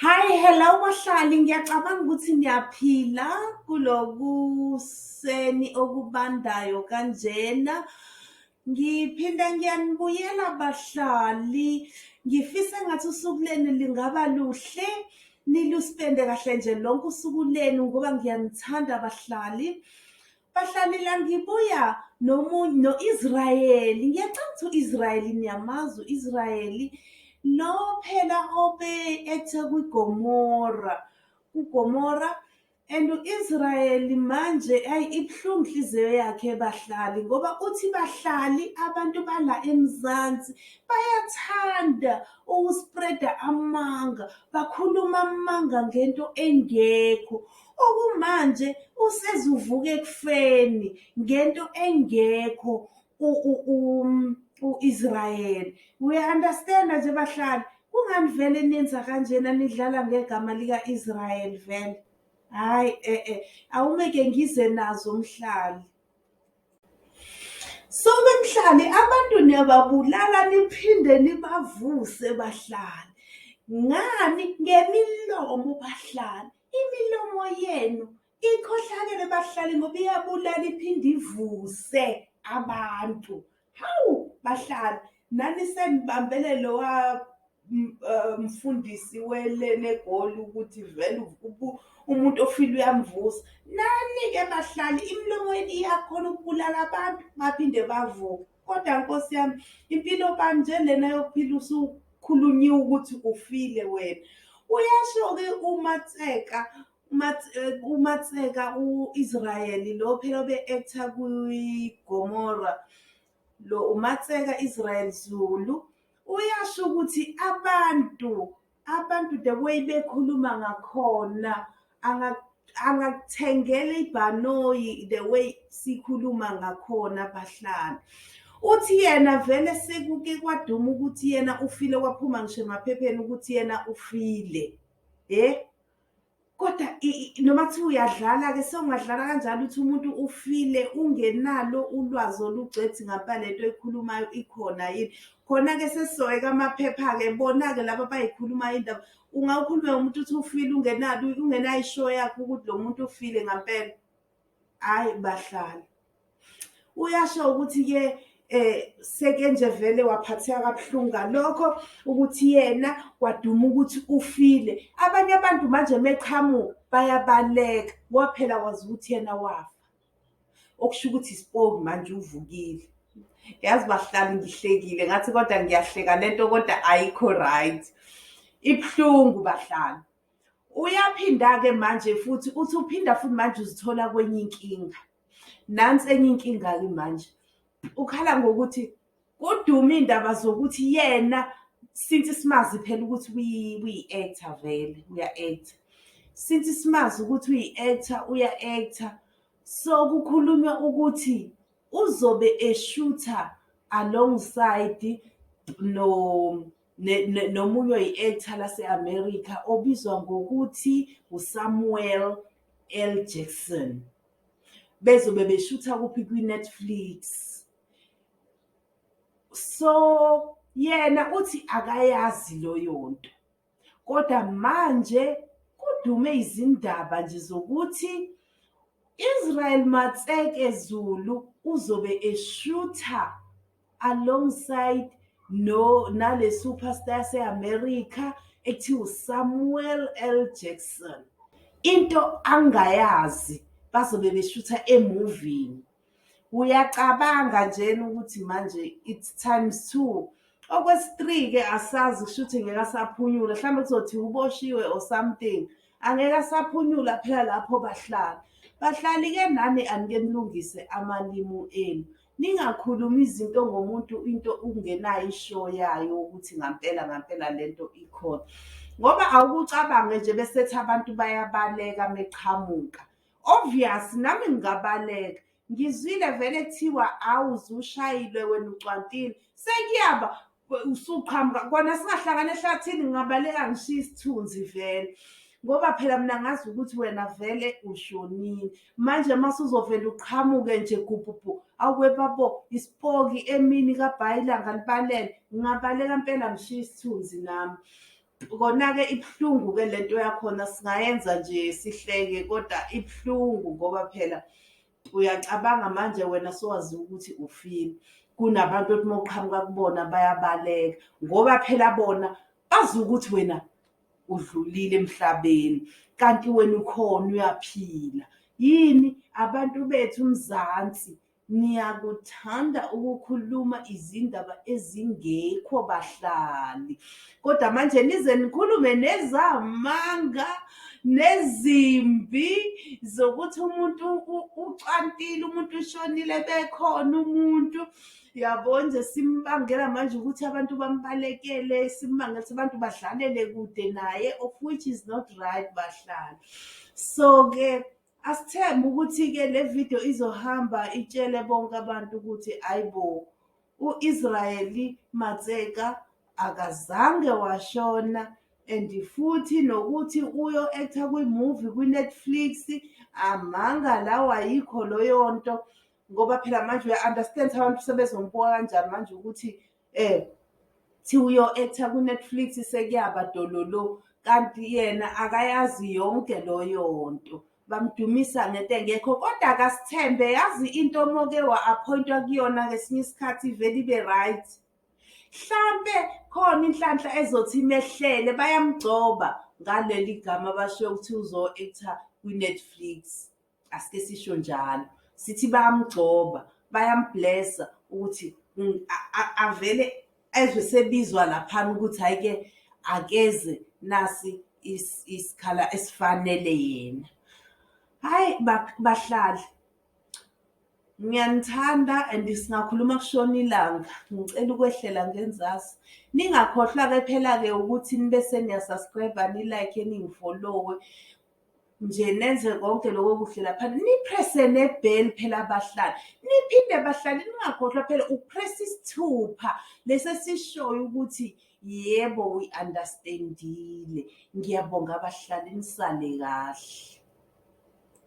Hi, hello bahlali, ngiyacabanga ukuthi niyaphila kulokuseni okubandayo kanjena. Ngiphinda ngiyanibuyela bahlali, ngifisa engathi usuku lenu lingaba luhle, niluspende kahle nje lonke usuku lenu ngoba ngiyanithanda bahlali. Bahlanela ngibuya nomunye no-Israyeli ngiyacanga ukuthi u-Israyeli niyamazi u-Israyeli lo phela obe ethe kwiGomora kuGomora and u-Israyeli manje ayi ibuhlungu inhliziyo yakhe bahlali ngoba uthi bahlali abantu bala eMzansi bayathanda ukuspreada amanga bakhuluma amanga ngento engekho okumanje usezuvuka ekufeni ngento engekho u-Israel uya-understanda nje bahlali kungani vele nenza kanjena nidlala ngegama lika-Israel vele hhayi e-e awungeke ngize nazo mhlali so bemhlali abantu niyababulala niphinde nibavuse bahlali ngani ngemilomo bahlali Imilomo yenu ikhohlakele bahlali ngoba iyabulala iphinde ivuse abantu. Hawu bahlali nani senibambele lowa eh, mfundisi welene egoli ukuthi vele umuntu ofile uyamvusa. Nani-ke bahlali imilomo yenu iyakhona ukubulala abantu baphinde bavuke. kodwa nkosi yami impilo kanje lena yokuphila usukhulunyiwe ukuthi ufile wena uyasho-ke umatseka eh, umatseka u-israyeli lo phela obe-ektha kwigomora lo umatseka israyeli zulu uyasho ukuthi abantu Abantu the way bekhuluma ngakhona angakuthengela ibhanoyi the way sikhuluma ngakhona bahlali uthi yena vele sekuke kwaduma ukuthi yena ufile kwaphuma ngisho emaphepheni ukuthi yena ufile eh Kodwa noma kuthiwa uyadlala-ke sewungadlala kanjalo ukuthi umuntu ufile ungenalo ulwazi olugcwethi ngapha le nto ekhulumayo ikhona yini. Khona-ke sesizoyeka amaphepha-ke bona-ke laba abayikhulumayo indaba. Ungawukhulume umuntu uthi ufile ungenalo ungenayo ishoyo yakho ukuthi lo muntu ufile ngampela. Hhayi bahlali. Uyasho ukuthi ke eh seke nje vele waphatheka kabuhlungu ngalokho ukuthi yena kwaduma ukuthi ufile abanye abantu manje meqhamuka bayabaleka waphela wazi ukuthi yena wafa okusho ukuthi isipoki manje uvukile yazi bahlali ngihlekile ngathi kodwa ngiyahleka lento kodwa ayikho right ibuhlungu bahlali Uyaphinda-ke manje futhi uthi uphinda futhi manje uzithola kwenye inkinga. Nansi enye inkinga-ke manje. Ukhala ngokuthi kudume iy'ndaba zokuthi yena since simazi phela ukuthi uyi-actor vele uya-actor. Since simazi ukuthi uyi-actor uya-actor. So kukhulunywa ukuthi uzobe eshutha alongside no nomunye oyi-actor lase-america obizwa ngokuthi usamuel l jackson bezobe beshutha kuphi kwi-netflix so yena uthi akayazi loyo nto kodwa manje kudume izindaba nje zokuthi israel matseke zulu uzobe eshutha alongside no nale superstar yaseAmerica ekuthiwa uSamuel L Jackson into angayazi bazobe beshutha emuvini uyacabanga njena ukuthi manje it's times two okwesi-three ke asazi kushuthi ngeke asaphunyula mhlawumbe kuzothi uboshiwe or something angeke asaphunyula phela lapho bahlala bahlali-ke nani anike nilungise amalimu enu Ningakhulumi izinto ngomuntu into ungenayo ishow yayo ukuthi ngampela ngampela lento ikhona. Ngoba awukucabange nje besethi abantu bayabaleka meqhamuka. Obvious nami ngingabaleka. Ngizwile vele kuthiwa awu zushayile wena ucwantile. Sekuyaba usuqhamuka kona singahlangana ehlathini ngingabaleka ngishiye isithunzi vele ngoba phela mina ngazi ukuthi wena vele ushonile manje uma suzovele uqhamuke nje gubhubhu awubebabo isipoki emini kabhayi ilanga libalele ngingabaleka mpela ngishiye isithunzi nami kona-ke ibuhlungu-ke le nto yakhona singayenza nje sihleke kodwa ibuhlungu ngoba phela uyacabanga manje wena sowaziwa ukuthi ufile kunabantu othi uma uqhamuka kubona bayabaleka ngoba phela bona bazi ukuthi wena udlulile emhlabeni kanti wena ukhona uyaphila yini abantu bethu umzansi niyakuthanda ukukhuluma izindaba ezingekho bahlali kodwa manje nize nikhulume nezamanga nezimbi zokuthi umuntu ucwantile umuntu ushonile bekhona umuntu yabo nje simbangela manje ukuthi abantu bambalekele simbangela ukuthi abantu badlalele kude naye of which is not right bahlala so-ke Asithembe ukuthi-ke le video izohamba itshele bonke abantu ukuthi ayi bo u-Israyeli Matseka akazange washona and futhi nokuthi uyo actor kwi-movie kwi-Netflix amanga lawo ayikho loyo nto ngoba phela manje uya-understand abantu sebezombuka kanjani manje ukuthi Eh thi uyo actor ku Netflix sekuyaba dololo kanti yena akayazi yonke loyo nto bamdumisa ngento engekho kodwa akasithembe yazi into omoke wa-appointwa kuyona ngesinye isikhathi ivele ibe right hlampe khona inhlanhla ezothi imehlele bayamgcoba ngaleli gama basho ukuthi uzo-actor kwi-netflix asike sisho njalo sithi bayamgcoba bayamblessa ukuthi mm, avele ezwe sebizwa laphana ukuthi hhayi ke akeze nasi isikhala esifanele yena hhayi bahlali ngiyanithanda and singakhuluma kushona ilanga ngicela ukwehlela ngenzasi ningakhohlwa-ke phela-ke ukuthi nibe seniyasubscribe nilike ningifollowe nje nenze konke lokho kuhle lapha niprese nebheli phela abahlali niphinde bahlali ningakhohlwa phela upress isithupha lesi esishoyo ukuthi yebo we understandile ngiyabonga abahlali nisale kahle